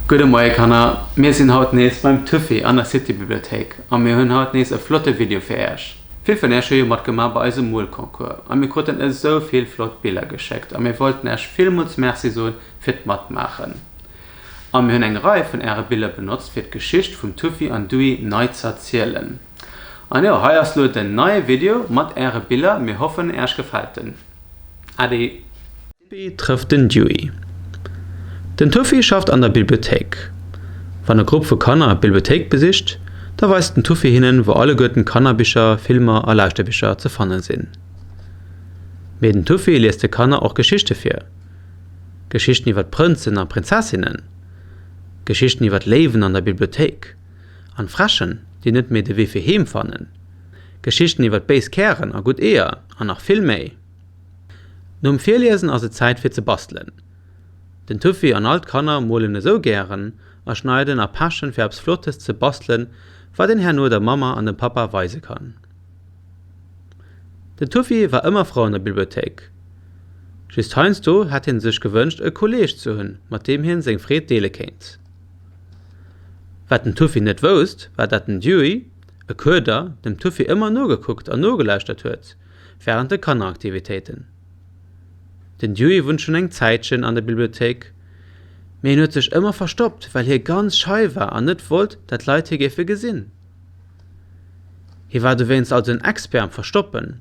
Gudde Moie Kanner, mir sinn haut nees beim Tuffy an der City Bibliothéik a mir hunn haut nees e flotte Video fir Äerch. Vill vun Äerch hu jo matgemaach bei eisem Moolconcours a mir kruten esou vill flott Biller geschéckt a mir wollten Äerch villmools Merci soen fir d'Matmaachen a mir hunn eng Rei vun Äere Biller benotzt fir d'Geschicht vum Tuffy an Duy nei z'erzielen. An jo, hei ass lo den neie Video mat äre Biller, mir hoffen äerch gefällt den. Ade. D'Bibbi trëfft den Dewey. Den Tuffy schafft an der Bibliothéik. Wann e Grupp vu Kanner d'Bibliothéik besicht, da weist den Tuffy hinnen, wou alleguerten Kannerbicher, Filmer a Lauschterbicher ze fanne sinn. Mee den Tuffy liest de Kanner och Geschichte vir. Geschichten iwwer Prënzen a Prinzessinnen. Geschichten iwwer Léiwen an der Bibliothéik. an Fräschen, déi net méi de Wee fir heem fannen, Geschichten iwwert béis Kären a gutt Eeër an nach vill méi. Nom Virliesen ass et Zäit fir ze bastelen. Den Tuffy an all d'Kanner molen esou gären a schneiden a pechen fir eppes Flottes ze bastelen, wat een herno der Mamma an dem Pappa weise kann. Den Tuffy war ëmmer frou an der Bibliothéik. Just heiansdo hätt hie sech gewënscht e Kolleeg ze hunn, mat deem hien seng Freed deele kéint. Wat den Tuffy net wousst, war dat den Dewey, e Köder, dem Tuffy ëmmer nogekuckt an nogelauschtert huet wärend de Kanneraktivitéiten. Den Dewey wunnt schonn eng Zäitchen an der Bibliothéik, mee hien huet sech ëmmer verstoppt, well hie ganz schei war an net wollt, dat d'Leit hie géife gesinn. Hie war dowéinst also en Expert am Verstoppen.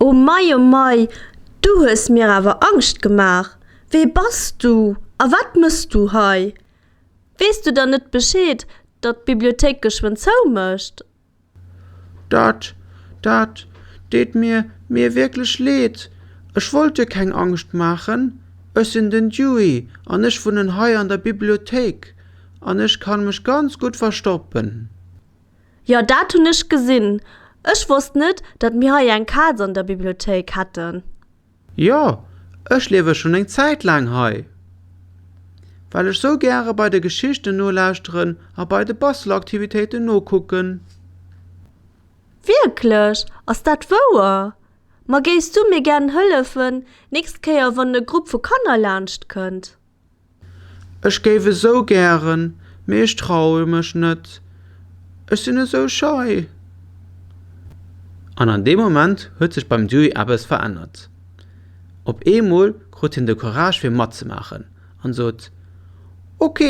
O mei, o mei, du hues mir awer Angscht gemaach! Wee bass du a wat mëss du hei? Weess du dann net Bescheed, datt d'Bibliothéik geschwënn zou mécht? Dat, dat deet mir, mir wierklech leed. Ech wollt dir keng Angscht maachen. Ech sinn den Dewey an ech wunnen hei an der Bibliothéik an ech kann mech ganz gutt verstoppen. Jo, dat hunn ech gesinn. Ech wosst net, datt mir hei eng Kaz an der Bibliothéik hätten. Jo, ech liewe schonn eng Zäit laang hei, well ech sou gäre bei de Geschichten nolauschteren a bei de Bastelaktivitéiten nokucken. Wierklech? Ass dat wouer? Ma géifs du mir gären hëllefen, nächst Kéier wann e Grupp vu Kanner laanscht kënnt? Ech géif esou gären, mee ech traue mech net, ech sinn esou schei. An an deem Moment huet sech beim Dewey eppes verännert. Op eemol krut hien de Courage fir matzemaachen an sot, Ok,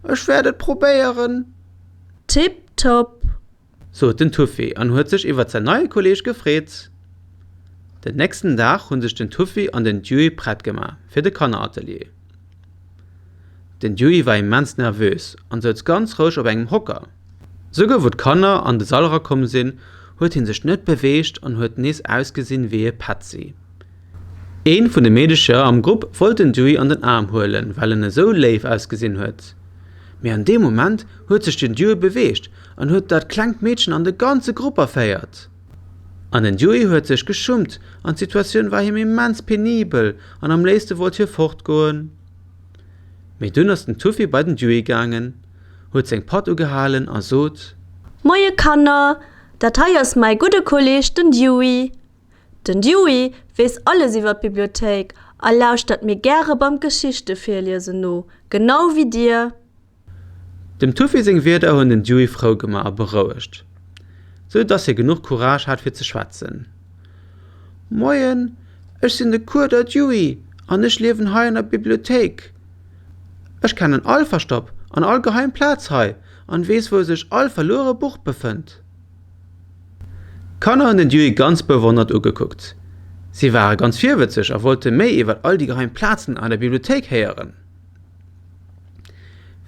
ech wäert et probéieren. Tip top! sot den Tuffy an huet sech iwwert säin neie Kolleeg gefreet. Den nächsten Dag hunn sech den Tuffy an den Dewey prett gemaach fir de Kanneratelier. Den Dewey war immens nervös an souz ganz roueg op engem Hocker. Souguer wou d'Kanner an de Sall erakomm sinn, huet hie sech net beweegt an huet nees ausgesinn wéi e Petzi. Eent vun de Meedecher am Grupp wollt den Dewey an den Aarm huelen, well en esou léif ausgesinn huet. Mee an deem Moment huet sech den Dewey beweegt En huet dat klengt Meedchen an de ganze Grupp erféiert an den Yui huet sech geschummt an d'Situatioun war him immens penibel an am léifste wollt hie fortgoen. Mee dunn ass den Tuffy bei den Yui gaangen, huet seng Patt ugehalen a sot. Moie Kanner, dat hei ass mäi gudde Kolleeg den Yui. Den Yui weess alles iwwer d'Bibliothéik a lauschtert mir gäre beim Geschichte virliesen no, genau wéi dir. Dem Tuffy seng Wierder hunn den Dewey frou gemaach a berouegt, sou dass hie genuch Courage hat fir ze schwätzen. Moien, ech sinn de Cours der Dewey an ech liewen hei an der Bibliothéik. Ech kennen all Verstopp an all geheim Plaz hei an weess wou sech all verluere Buch befënnt. D'Kanner hunn den Dewey ganz bewonnert ugekuckt. Si ware ganz virwëtzeg a wollte méi iwwer all déi geheim Plazen an der Bibliothéik héieren.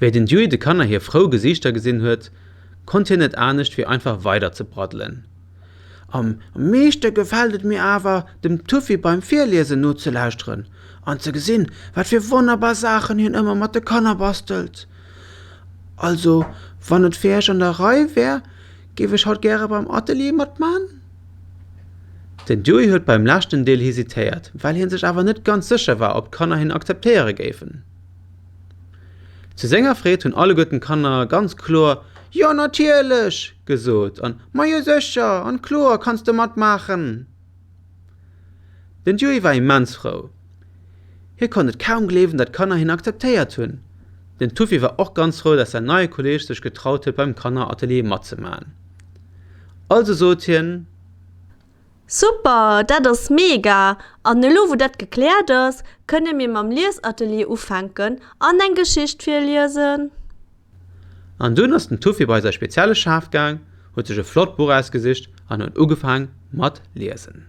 Wéi den Dewey de Kanner hir frou Gesiichter gesinn huet, konnt hien net anescht wéi einfach weider ze braddelen. Am meeschte gefält et mir awer, dem Tuffy beim Virliesen nozelauschteren an ze gesinn, wat fir wonnerbar Saachen hien ëmmer mat de Kanner bastelt. Also, wann et fir Iech an der Rei wär, géif ech haut gäre beim Atelier matman. Den Dewey huet beim leschten Deel hesitéiert, well hie sech awer net ganz sécher war, ob d'Kanner hien akzeptéiere géifen. Zu senger Freed hunn alleguerten d'Kanner ganz kloer Jo, natierlech! gesot an Majo, sécher an kloer kanns de matmaachen! Den Dewey war immens frou. Hie konnt et kaum gleewen, datt d'Kanner hien akzeptéiert hunn. Den Tuffy war och ganz frou, datt säin neie Kolleeg sech getraut huet, beim Kanneratelier matzemaachen. Also sot hien. Super! Dat ass mega! An elo wou dat gekläert ass, kënne mir mam Liesatelier ufänken an eng Geschicht virliesen. An dunn ass den Tuffy bei säi spezielle Schaf gaang, huet sech e flott Buch ausgesicht an huet ugefaang mat liesen.